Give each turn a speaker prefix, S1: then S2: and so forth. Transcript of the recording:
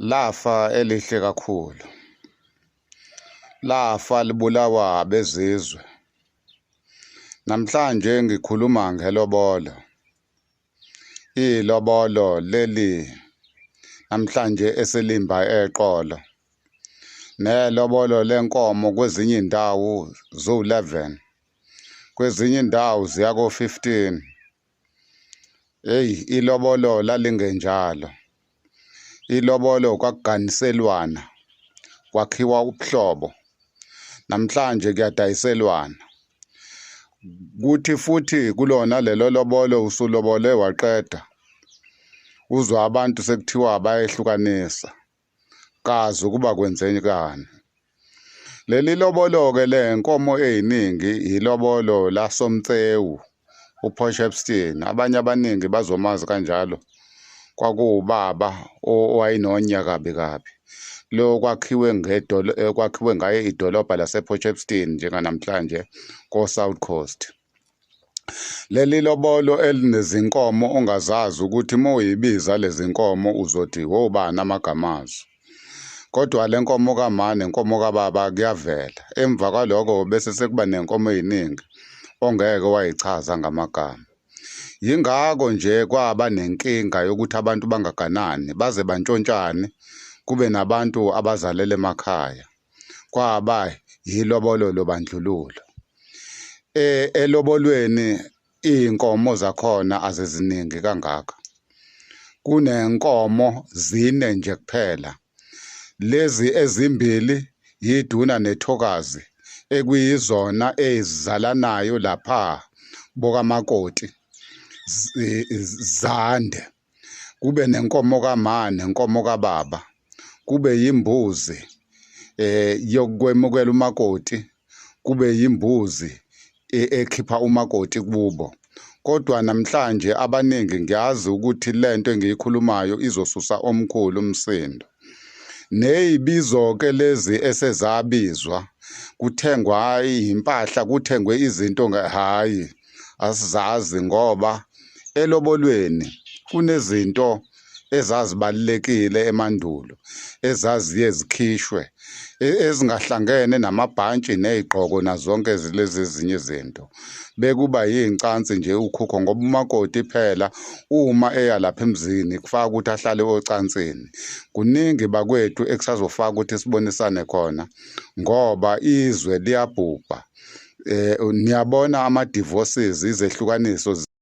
S1: Lafa elihle kakhulu. Lafa libulawa abezizwe. Namhlanje ngikhuluma ngelobolo. Ilobolo leli namhlanje esilimba eqolo. Nelobolo lenkomo kwezinye indawo zo-11. Kwezinye indawo ziya ko-15. Heyi ilobolo lalingenjalo. Ilobolo kwakuganiselwana, kwakhiwa ubuhlobo. Namhlanje kuyadayiselwana. Kuthi futhi kulona lelo lobolo usulobole waqeda, uzwa abantu sekuthiwa bayehlukanisa. kazi ukuba kwenzekani leli lobolo-ke le nkomo ey'ningi yilobolo lasomtsewu uposh epstein abanye abaningi bazomazi kanjalo kwakuwubaba owayenonya kabi kabi lo kwakhiwe kwakhiwe ngaye idolobha laseposh epstein njenganamhlanje ko-south coast Leli lobolo elinezinkomo ongazazi ukuthi uma uyibiza lezi nkomo uzothi wobani amagama azo. Kodwa le nkomo kamane nenkomo kababa kuyavela. Emva kwaloko bese sekuba nenkomo eziningi ongeke wayichaza ngamagama. Yingakho nje kwaba nenkinga yokuthi abantu bangaganani baze bantshontshane kube nabantu abazalele emakhaya. kwaba yilobolo lobandlululo eh elobolweni iinkomo zakhona aziziningi kangaka kunenkomo zine nje kuphela lezi ezimbili yiduna nethokazi ekuyizona ezizalanayo lapha bokamakoti zande kube nenkomo kama nenkomo kababa kube yimbuzi eh yokwemukela umakoti kube yimbuzi e-, ekhipha umakoti kubo kodwa namhlanje abaningi ngiyazi ukuthi lento engiyikhulumayo izosusa omkhulu umsindo neyibizo-ke lezi esezabizwa kuthengwa impahla kuthengwe izinto hhayi asizazi ngoba elobolweni kunezinto ezazibalulekile emandulo ezaziye zikhishwe e- ezingahlangene namabhantshi nezigqoko nazonke lezi ezinye izinto bekuba yincansi nje ukhukho ngoba umakoti phela uma eya lapha emzini kufaka ukuthi ahlale ocansini kuningi bakwethu ekusazofaka ukuthi sibonisane khona ngoba izwe liyabhubha eh niyabona ama divorces izehlukaniso